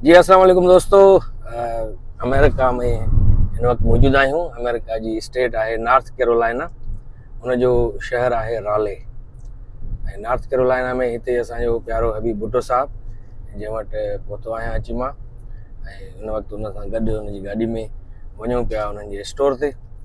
جي السلام عليڪم دوستو امريڪا ۾ هن وقت موجود آهيون امريڪا جي اسٽيٽ آهي نارٿ ڪيرولائنا ان جو شهر آهي رالي ۽ نارٿ ڪيرولائنا ۾ هتي اسانجو پيارو حبيب بھٽو صاحب جنهن وٽ پهتو آهيان اچي مان ۽ هن وقت ان سان گڏ ان جي گاڏي ۾ وڃون پيا انهن جي اسٽور تي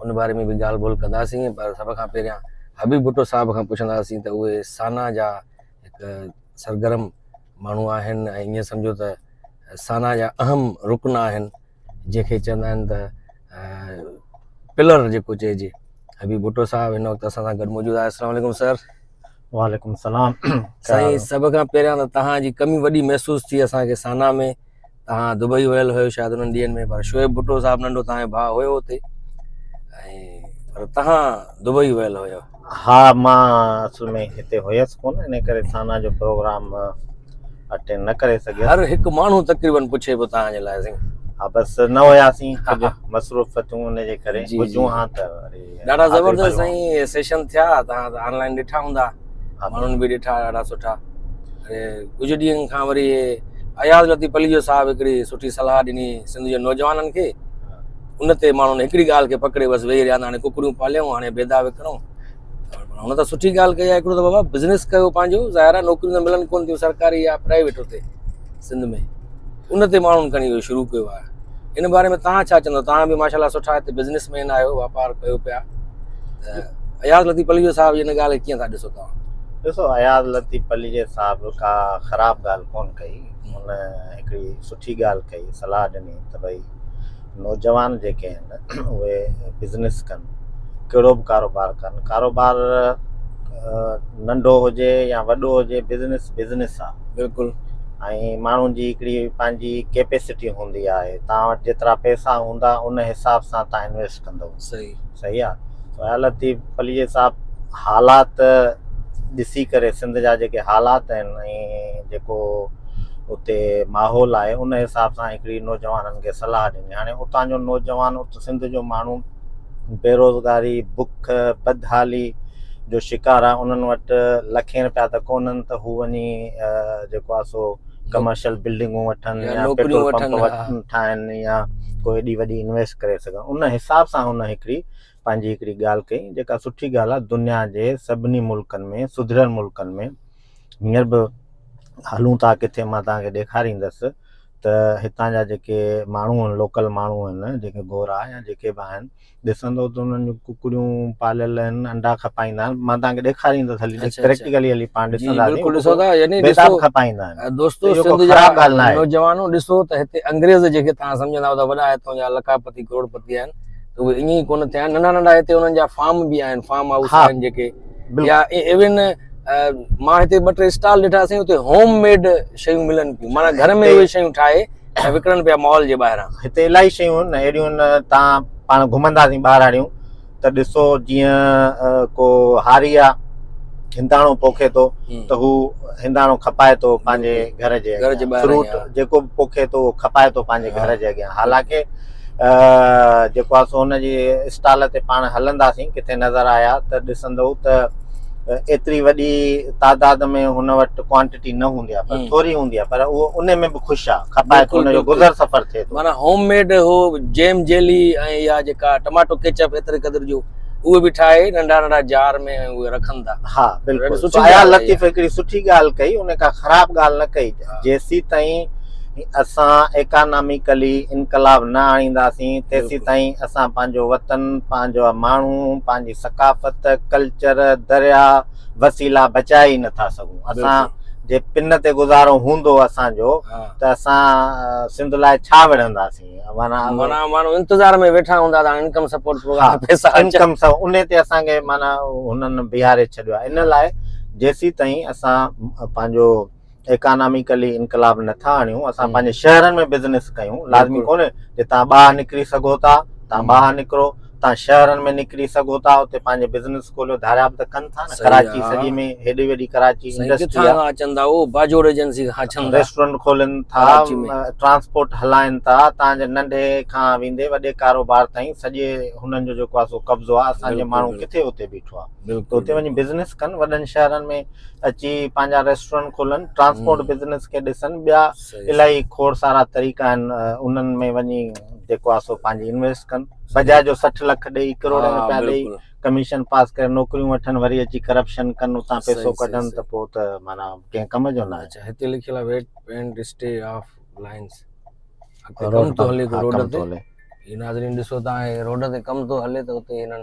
ان باري ۾ به ڳالهه ٻولهه ڪنداسين پر سڀ کان پهريان حبيب ڀٽو صاحب کان پڇنداسين ته اهي سانا جا هڪ سرگرم ماڻهو آهن ۽ ائين سمجهو ته سانا جا اهم رڪن آهن جنهن کي چوندا آهن ته پلر جيڪو چئجي حبيب ڀٽو صاحب هن وقت اسان سان گڏ موجود آهي السلام علیڪم سر وعليڪم السلام سائين سڀ کان پهريان ته تهان جي ڪمي وڏي محسوس ٿي اسانکي سانا ۾ تان دبئي ويل هيو شايد انهن ڏينهن ۾ پر شعيب ڀٽو صاحب ننڍو تان ڀاء هيو اتي ۽ پر تان دبئي ويل هيو ها مان اصل ۾ هتي هيس ڪون ان ڪري سانا جو پروگرام اٽينڊ نه ڪري سگهيس هر هڪ ماڻهو تقريبن پڇي پيو تان جي لاء سين ها بس نه هياسين مصروفتون ان جي ڪري جي جون ها ته ڏاڍا زبردست سائين سيشن ٿيا تان آنلائن ڏٺا هوندا ها ماڻهن به ڏٺا ڏاڍا سٺا ۽ ڪجهه ڏينهن کان وري اياز لطيف پليجو صاحب هڪڙي سٺي صلاح ڏني سنڌ جي نوجوانن کي ان تي ماڻهن هڪڙي ڳالهه کي پڪڙي بس ويهي رهيا هاڻي ڪڪڙيون پاليون هاڻي بيدا وڪڻو هن ته سٺي ڳالهه ڪئي آهي هڪڙو ته بابا بزنس ڪيو پنهنجو ظاهر آهي نوڪريون ته ملن ڪون ٿيون سرڪاري يا پرائيويٽ اتي سنڌ ۾ ان تي ماڻهن کڻي اهو شروع ڪيو آهي ان باري ۾ توهان ڇا چوندو توهان به ماشاء الله سٺا هتي بزنس مين آهيو واپار ڪيو پيا ته اياز لطيف پليجو صاحب ان ڳالهه کي ڪيئن ٿا ڏسو توهان ڏسو اياز لطيف پليجي صاحب ڪا خراب ڳالهه ڪون ڪئي هن هڪڙي سٺي ڳالهه ڪئي صلاح ڏني ته ڀئي نوجوان جيڪي آهن اهي بزنس ڪن ڪهڙو به ڪاروبار ڪن ڪاروبار ننڍو هجي يا وڏو هجي بزنس بزنس آهي بلڪل ۽ ماڻهن جي هڪڙي پنهنجي ڪيپيسٽي هوندي آهي تان وٽ جيترا پئسا هوندا ان حساب سان تان انويسٽ ڪندو صحيح صحيح آ سهيل لطيف پليجي صاحب حالات ڏسي ڪري سنڌ جا جيڪي حالات آهن ۽ جيڪو اتي ماحول آهي ان حساب سان هڪڙي نوجوانن کي صلاح ڏني هاڻي اتان جو نوجوان ات سنڌ جو ماڻهو بيروزگاري بک بدحالي جو شڪار آهي انهن وٽ لکين روپيا ته ڪونهن ته هو وڃي جيڪو آهي سو ڪمرشل بلڊنگون وٺن يا پيٽرول پمپ وٺن ٺاهن يا ڪو ايڏي وڏي انويسٽ ڪري سگهن ان حساب سان هن هڪڙي پنهنجي هڪڙي ڳالهه ڪئي جيڪا سٺي ڳالهه آهي دنيا جي سڀني ملڪن ۾ سڌريل ملڪن ۾ هينئر به هلون ٿا ڪٿي مان توهان کي ڏيکاريندس ته هتان جا جيڪي ماڻهو آهن لوڪل ماڻهو آهن جيڪي گورا يا جيڪي به آهن ڏسندو ته انهن جون ڪڪڙيون پاليل آهن انڊا کپائيندا آهن مان تان کي ڏيکاريندس هلي اچھا، اچھا. پريڪٽيڪلي هلي پاڻ جي ڏسنداسين بلڪل ڏسو ٿا يعني بيداب ڏسو کپائيندا آهن ۽ دوستو اهو سنڌ ڪو جا خراب ڳالهه ناهي. نوجوانو ڏسو ته هتي انگريز جيڪي توهان سمجهندا هئا ته وڏا هتان جا لکاپتي ڪروڙپتي آهن ته اهي ائين ئي ڪونه ٿيا آهن ننڍا ننڍا هتي انهن جا فارم به آهن فارم هائوس ها. آهن جيڪي بلڪل يا ايون مان هتي ٻه ٽي اسٽال ڏٺا سائين اتي هوم ميڊ شيون ملن پيون معنيٰ گهر ۾ اهي شيون ٺاهي وڪڻن پيا مال جي ٻاهران. هتي الاهي شيون هن اهڙيون هن تان پاڻ گهمنداسين ٻاهراڙيون ته ڏسو جيئن ڪو هاري آ هنداڻو پوکي ٿو ته هو هنداڻو کپائي ٿو پنهنجي گهر جي اڳيان فروٽ جيڪو به پوکي ٿو اهو کپائي ٿو پنهنجي گهر جي اڳيان حالانڪه جيڪو آهي سو ان جي اسٽال تي پاڻ هلنداسين ڪٿي نظر آيا ته ڏسندئو ته ايتري وڏي تعداد ۾ هن وٽ ڪوانٽيٽي نه هوندي آهي پر ٿوري هوندي آهي پر اهو ان ۾ به خوش آهي کپائي ٿو ان جو گذر سفر ٿئي ٿو معنيٰ هوم ميڊ هو جيم جيلي ۽ يا جيڪا ٽماٽو ڪيچپ ايتري قدر جو اهي به ٺاهي ننڍا ننڍا جار ۾ اهي رکن ٿا ها بلڪل سٺي لطيف هڪڙي سٺي ڳالهه ڪئي ان ڪا خراب ڳالهه نه ڪئي جيسين تائين اسان ايڪاناميڪلي انقلاب نه آڻينداسين تيسيتائين اسان پنهنجو وطن، پنهنجا ماڻهو، پنهنجي ثقافت، ڪلچر، درياء، وسيلا بچائي ئي نٿا سگهون. اسان جي پن تي گذارو هوندو اسان جو ته اسان سنڌ لاء ڇا وڙهنداسين؟ معنيٰ ماڻهو انتظار ۾ ويٺا هوندا ته هاڻي انڪم سپورٽ پروگرام ۾ پئسا اچن. انڪم سپورٽ ان تي اسان کي معنيٰ هنن بيهاري ڇڏيو آهي. ان لاء جيسيتائين اسان پنهنجو ايڪاناميڪلي انقلاب نه ٿا آڻيون اسان پنهنجي شهرن ۾ بزنس ڪيون لازمي ڪونهي جي تان ٻاهر نڪري سگهو ٿا تان ٻاهر نڪرو تان شهرن ۾ نڪري سگهو ٿا اتي پنهنجي بزنس کوليو ڌاريا به ته ڪن ٿا نه ڪراچي سڄي ۾ هيڏي وڏي ڪراچي انڊسٽري آهي اچن ٿا اهو باجوڙ ايجنسي کان اچن ٿا ريسٽورنٽ کولين ٿا ٽرانسپورٽ هلائين ٿا تان جي ننڍي کان ويندي وڏي ڪاروبار تائين سڄي هنن جو جيڪو آهي سو قبضو آهي اسان جي ماڻهو ڪٿي اتي بيٺو آهي بلڪل اتي وڃي بزنس ڪن وڏن شهرن ۾ اچي پنهنجا ريسٽورنٽ کولن ٽرانسپورٽ بزنس کي ڏسن ٻيا الائي کوڙ سارا طريقا آهن انهن ۾ وڃي جيڪو آهي سو پنهنجي انويسٽ ڪن بجاء جو سٺ لک ڏئي ڪروڙين روپيا ڏئي ڪميشن پاس ڪري نوڪريون وٺن وري اچي ڪرپشن ڪن اتان پيسو ڪڍن ته پوء ته معنيٰ ڪنهن ڪم جو نه اچي هتي لکيل آهي wet and stay off lines road تي هلي روڊ تي ناظرين ڏسو تان روڊ تي ڪم ٿو هلي ته اتي هنن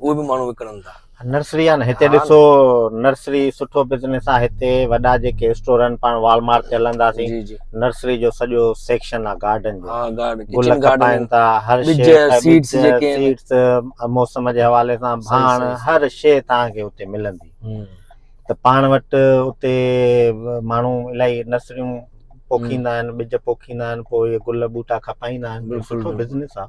اهي به ماڻهو وڪڻن ٿا نرسري آهي نه هتي ها ن. ڏسو نرسري سٺو بزنس آهي هتي وڏا جيڪي اسٽور آهن پاڻ وال مارٽ تي هلنداسين جي جي نرسري جو سڄو سيڪشن آهي گارڊن جو ها گارڊ گل ڪچن گارڊن کپائن ٿا هر ٻج شي پ- سيڊس ٻج جيڪي آهن سيڊس موسم جي حوالي سان صحيح ڀاڻ صحيح صحيح هر شي توهان کي هتي ملندي هم. ته پاڻ وٽ اتي ماڻهو الائي نرسريون پوکيندا آهن ٻج پوکيندا آهن پوء اهي گل ٻوٽا کپائيندا آهن بلڪل سٺو بلڪل بزنس آهي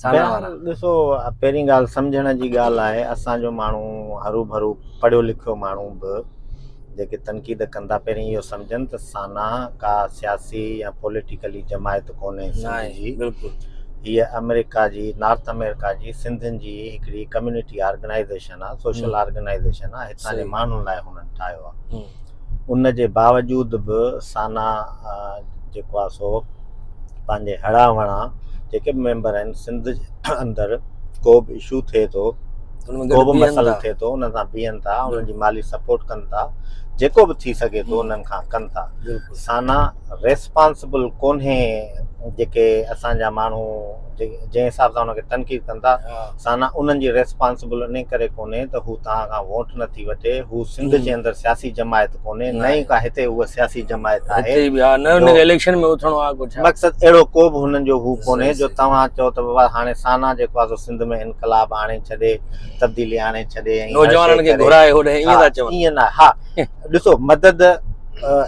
سانا وارا. بهرحال ڏسو پهرين ڳالهه سمجهڻ جي ڳالهه آهي اسان جو ماڻهو هروڀرو پڙهيو لکيو ماڻهو به جيڪي تنقيد ڪن ٿا پهرين اهو سمجهن ته سانا ڪا سياسي يا پوليٽيڪلي جماعت ڪونهي نه سنڌ آهي جي بلڪل هيء آمريڪا جي نارٿ آمريڪا جي سنڌين جي هڪڙي ڪميونٽي آرگنائيزيشن آهي سوشل آرگنائيزيشن آهي هتان جي صحيح ماڻهن لاء هنن ٺاهيو آهي هم. ان جي باوجود به سانا جيڪو آهي سو پنهنجي هڙان وڙان جيڪي به ميمبر آهن سنڌ جي اندر ڪو به اشو ٿئي ٿو ڪو به مسئلو ٿئي ٿو انهن سان بيهن ٿا انهن جي مالي سپورٽ ڪن ٿا جيڪو به ٿي سگهي ٿو انهن کان ڪن ٿا سانا ريسپانسبل ڪونهي جيڪي اسان جا ماڻهو جنهن حساب سان ان کي تنقيد ڪن ٿا سانا انهن جي ريسپانسبل انهي ڪري ڪونهي ته هو توهان کان ووٽ نه ٿي وٺي، هو سنڌ جي اندر سياسي جماعت ڪونهي، نه ئي ڪا هتي هوء سياسي جماعت آهي، هتي به آهي، نه ان کي اليڪشن ۾ اٿڻو آهي ڪو ڇا؟ مقصد اهڙو ڪو به هنن جو هو ڪونهي جو توهان چئو ته بابا هاڻي سانا جيڪو آهي سو سنڌ ۾ انقلاب آڻي ڇڏي، تبديلي آڻي ڇڏي ۽ هر شيء ڪري. نوجوانن کي گهرائي هوڏانهن ائين ٿا چون. ائين ناهي ها ڏسو مدد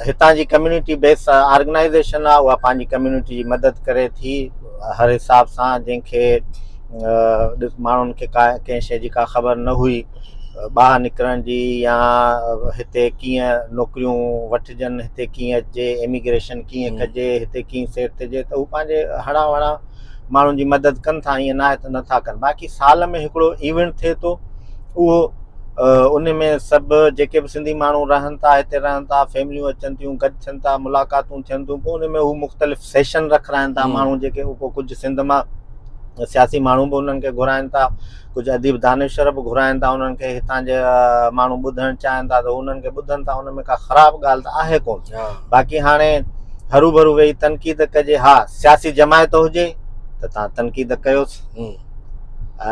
هتان جي ڪميونٽي بيس آرگنائيزيشن آهي اها پنهنجي ڪميونٽي جي مدد ڪري ٿي هر حساب سان جنهن کي ماڻهن کي ڪا ڪنهن شيء جي ڪا خبر نه هئي ٻاهر نڪرڻ جي يا هتي ڪيئن نوڪريون وٺجن هتي ڪيئن اچجي ايميگريشن ڪيئن ڪجي هتي ڪيئن سيٽ ٿجي ته هو پنهنجي هڙان وڙان ماڻهن جي مدد ڪن ٿا ائين ناهي ته نٿا ڪن باقي سال ۾ هڪڙو ايونٽ ٿئي ٿو اهو ان ۾ سڀ جيڪي به سنڌي ماڻهو رهن ٿا هتي رهن ٿا فيمليون اچن ٿيون گڏ ٿين ٿا ملاقاتون ٿين ٿيون پوء ان ۾ هو مختلف سيشن رکرائن ٿا ماڻهو جيڪي ڪجهه سنڌ مان سياسي ماڻهو به انهن کي گهرائن ٿا، ڪجهه اديب دانشور به گهرائن ٿا، انهن کي هتان جا ماڻهو ٻڌڻ چاهن ٿا ته هو انهن کي ٻڌن ٿا، ان ۾ ڪا خراب ڳالهه ته آهي ڪونه. باقي هاڻي هروڀرو ويهي تنقيد ڪجي، ها سياسي جماعت هجي ته تان تنقيد ڪيوس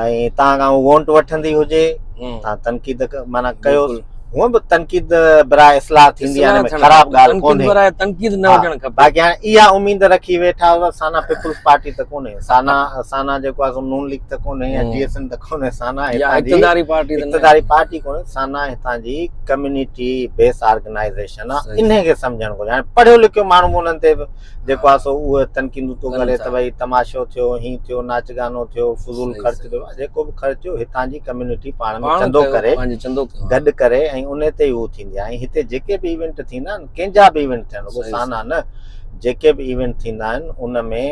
۽ تان کان هو وونٽ وٺندي هجي تان تنقيد معنيٰ ڪيوس. هونء به تنقيد براء اصلاح ٿيندي آهي ان ۾ خراب ڳالهه ڪونهي تنقيد براء تنقيد نه هجڻ کپي باقي هاڻي اها اميد رکي ويٺا هئا سانا پيپلز پارٽي ته ڪونهي سانا سانا جيڪو آهي سو نون ليگ ته ڪونهي يا جي ايس ايم ته ڪونهي سانا هتان جي اقتداري پارٽي ته اقتداري پارٽي ڪونهي سانا هتان جي ڪميونٽي بيس آرگنائيزيشن آهي انهي کي سمجهڻ گهرجي هاڻي پڙهيو لکيو ماڻهو به انهن تي جيڪو آهي سو اهي تنقيدون ٿو ڪري ته ڀئي تماشو ٿيو، هين ٿيو، ناچ گانو ٿيو، فضول خرچ ٿيو، جيڪو به خرچ ٿيو هتان جي ڪميونٽي پاڻ ۾ چندو ڪري، گڏ ڪري ۽ ان تي ئي هو ٿيندي آهي ۽ هتي جيڪي به ايونٽ ٿيندا آهن ڪنهن جا به ايونٽ ٿين رڳو سانا نه جيڪي به ايونٽ ٿيندا آهن ان ۾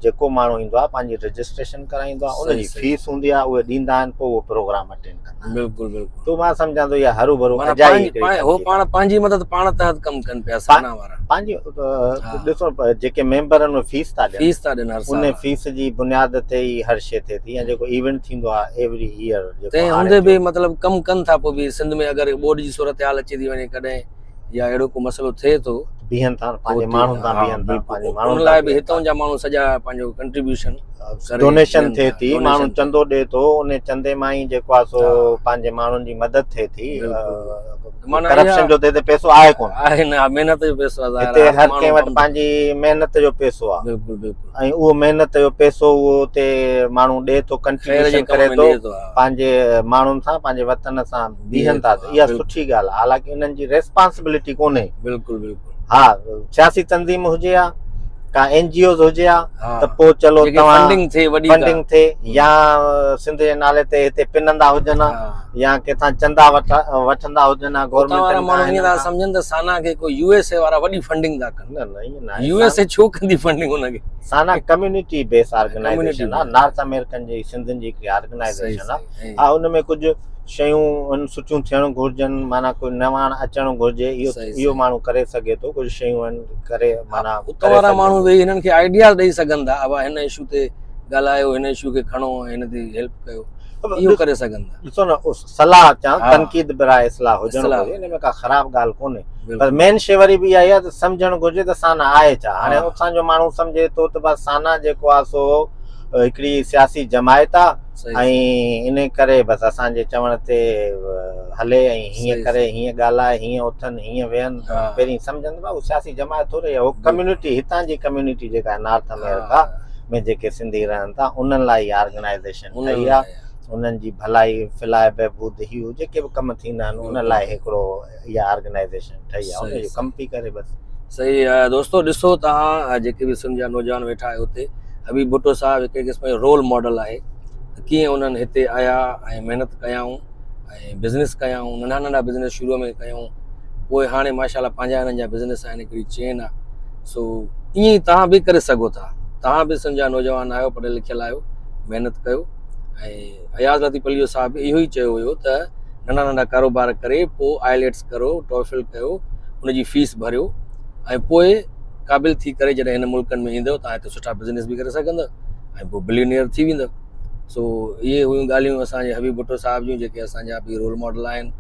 جيڪو ماڻهو ايندو آهي پنهنجي رجسٽريشن ڪرائيندو آهي ان جي فيس هوندي آهي اهي ڏيندا آهن پوء اهو پروگرام اٽينڊ ڪندا آهن. بلڪل بلڪل تو مان سمجھان تو يا هرو ڀرو اجائي هو پاڻ پنهنجي مدد پاڻ تحت ڪم ڪن پيا سانا وارا پنهنجي ڏسو جيڪي ميمبرن ۾ فيس ٿا ڏين فيس ٿا ڏين ان فيس جي بنياد تي ئي هر شي ٿي ٿي ۽ جيڪو ايونٽ ٿيندو آهي ايوري ايئر تنهن هوندي به مطلب ڪم ڪن ٿا پوء به سنڌ ۾ اگر ٻوڏ جي صورتحال اچي ٿي وڃي ڪڏهن يا اهڙو ڪو مسئلو ٿئي ٿو بيهن ٿا پنهنجي ماڻهن سان بيهن ٿا پنهنجي ماڻهن لاء به هتون جا ماڻهو سڄا پنهنجو ڪنٽريبيوشن ڊونيشن ٿئي ٿي ماڻهو چندو ڏي ٿو ان چندي مان ئي جيڪو آ سو پنهنجي ماڻهن جي مدد ٿئي ٿي ڪرپشن جو ته هتي پيسو آهي ڪون آهي نه محنت جو پيسو آهي هتي هر ڪنهن وٽ پنهنجي محنت جو پيسو آهي بلڪل بلڪل ۽ اهو محنت جو پيسو اهو هتي ماڻهو ڏي ٿو ڪنٽريبيوشن ڪري ٿو پنهنجي ماڻهن سان پنهنجي وطن سان بيهن ٿا ته اها سٺي ڳالهه آهي حالانڪه انهن جي ريسپانسبلٽي ڪونهي بلڪل بلڪل ها سياسي تنظيم هجي ها ڪا اين جي اوز هجي ها ته پوء چلو فنڊنگ ٿئي وڏي فنڊنگ ٿئي يا سنڌ جي نالي تي هتي پنندا هجن ها يا ڪٿا چندا وٺندا هجن ها گورنمنٽ وارا ماڻهو ائين ٿا سمجهن ته سانا کي ڪو يو ايس اي وارا وڏي فنڊنگ ٿا ڪن نه نه يو ايس اي ڇو ڪندي فنڊنگ ان کي سانا ڪميونٽي بيس آرگنائيزيشن ها نارٿ آمريڪن جي سنڌن جي هڪ آرگنائيزيشن ها ان ۾ ڪجهه شيون آهن سٺيون ٿيڻ گهرجن معنيٰ ڪو نواڻ اچڻ گهرجي اهو اهو ماڻهو ڪري سگهي ٿو ڪجهه شيون آهن ڪري معنيٰ اتان وارا ماڻهو ويهي هنن کي آئيڊياز ڏئي سگهن ٿا ابا هن اشو تي ڳالهايو هن اشو کي کڻو ۽ هن تي هيلپ ڪيو اهو ڪري سگهن ٿا ڏسو نه صلاح چا تنقيد به راء اصلاح هجڻ گهرجي ان ۾ ڪا خراب ڳالهه ڪونهي پر مين شي وري به اها آهي سمجهڻ گهرجي ته سانا آهي ڇا هاڻي اسان جو ماڻهو سمجهي ٿو ته بس سانا جيڪو آهي سو هڪڙي سياسي جماعت آهي ۽ ان ڪري بس اسان جي چوڻ تي هلي ۽ هيئن ڪري هيئن ڳالهائي هيئن اٿن هيئن ويهن پهرين سمجهن ته هو سياسي جماعت ٿوري هو ڪميونٽي هتان جي ڪميونٽي جيڪا آهي نارٿ آمريڪا ۾ جيڪي سنڌي رهن ٿا انهن لاء اها آرگنائيزيشن ٺهي آهي انهن جي ڀلائي فلاح بهبود هيو جيڪي به ڪم ٿيندا آهن ان لاء هڪڙو اها آرگنائيزيشن ٺهي آهي ان جو ڪم پئي ڪري بس صحيح دوستو ڏسو توهان جيڪي به سنڌ جا نوجوان ويٺا آهيو اتي حبيب ڀٽو صاحب هڪ قسم جو رول ماڊل آهي ڪيئن انهن هتي آيا ۽ محنت ڪيائون ۽ بزنس ڪيائون ننڍا ننڍا بزنس شروع ۾ ڪيائون پوء هاڻي ماشاء الله پنهنجا هنن جا بزنس آهن هڪڙي چين آهي سو ائين ئي توهان به ڪري سگهو ٿا توهان به سنڌ جا نوجوان آهيو پڙهيل لکيل آهيو محنت ڪيو ۽ اياز لطيفعليو صاحب به اهو ئي چيو هيو ته ننڍا ننڍا ڪاروبار ڪري پوء آئليٽس ڪرو ٽوئفل ڪيو ان جي فيس ڀريو ۽ پوء قابل ٿي ڪري جڏهن هن ملڪن ۾ ايندؤ تان هتي سٺا بزنس به ڪري سگهندؤ ۽ پوء بليونيئر ٿي ويندؤ سو اهي هيون ڳالهيون اسان جي حبيب ڀٽو صاحب جون جيڪي اسان جا به رول ماڊل آهن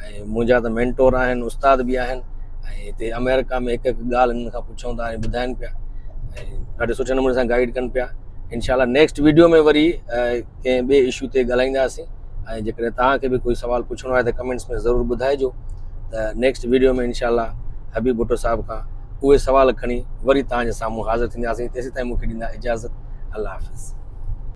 ۽ منهنجا ته مينٽور آهن استاد به آهن ۽ هتي آمريڪا ۾ هڪ هڪ ڳالهه هنن کان پڇون ٿا ۽ ٻڌائن پيا ۽ ڏاڍي سٺي نموني سان گائيڊ ڪن پيا انشاءالله نيڪسٽ ويڊيو ۾ وري ڪنهن ٻئي اشو تي ڳالهائينداسين ۽ جيڪڏهن توهان کي به ڪوئي سوال پڇڻو آهي ته ڪمينٽس ۾ ضرور ٻڌائجو ته نيڪسٽ ويڊيو ۾ انشاءالله حبيب ڀٽو صاحب کان اهي سوال کڻي وري توهان جي سامهون حاضر ٿينداسين تيسين تائين مون کي ڏيندا اجازت الله حافظ